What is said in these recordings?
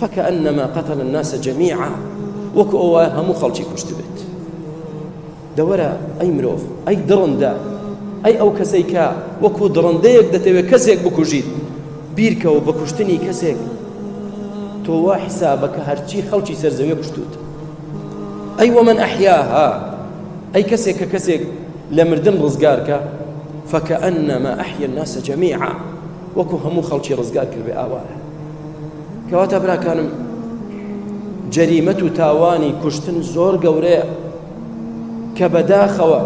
فکأنما قتل الناس جمیعا وەکو ئەو وایە هەموو خەڵکی کوشتبێت دەوەرە ئەی مرۆڤ ئەی دڕندە ئەی ئەو کەسەی کە وەکو دڕندەیەک دەتەوێت کەسێک بکوژیت بیرکەوە بە کوشتنی کەسێک تۆ وا حسابە کە هەرچی خەڵکی سەرزەوێ کوشتوت ئەی وەمن ئەحیاها ئەی کەسێک کە کەسێک لە مردن ڕزگارکە فەکە ئەنەمە ئەحیە ناسە جەمیعە وەکو هەموو خەڵکی ڕزگار کردێ ئاوایە کەواتە براکانم جەریمەت و تاوانی کوشتن زۆر گەورەیە کە بەداخەوە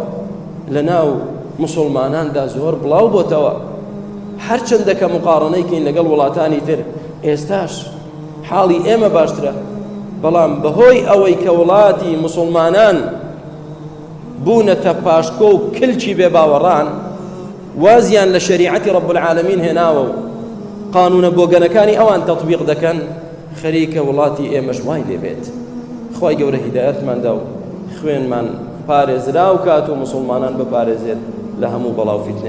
لە ناو مسلماناندا زۆر بڵاو بۆتەوە هەرچەندە کە مقاڕنەیکەین لەگەڵ وڵاتانی تر ئێستاش حاڵی ئێمە باشترە بەڵام بەهۆی ئەوەی کە وڵاتی مسلمانان بوونەتە پاشکۆ و کلکی بێ باوەڕان وازیان لە شەریعەتی رب العالمین هێناوە و قانونە بۆگەنەکانی ئەوان تەطبیق دەکەن خەریکە وڵاتی ئێمەش وای لێبێت خوای گەورە هیدایەتمان دا و خوێنمان پارێزراو کات و مسلمانان بپارێزێت لە هەموو بەڵاو فیتنە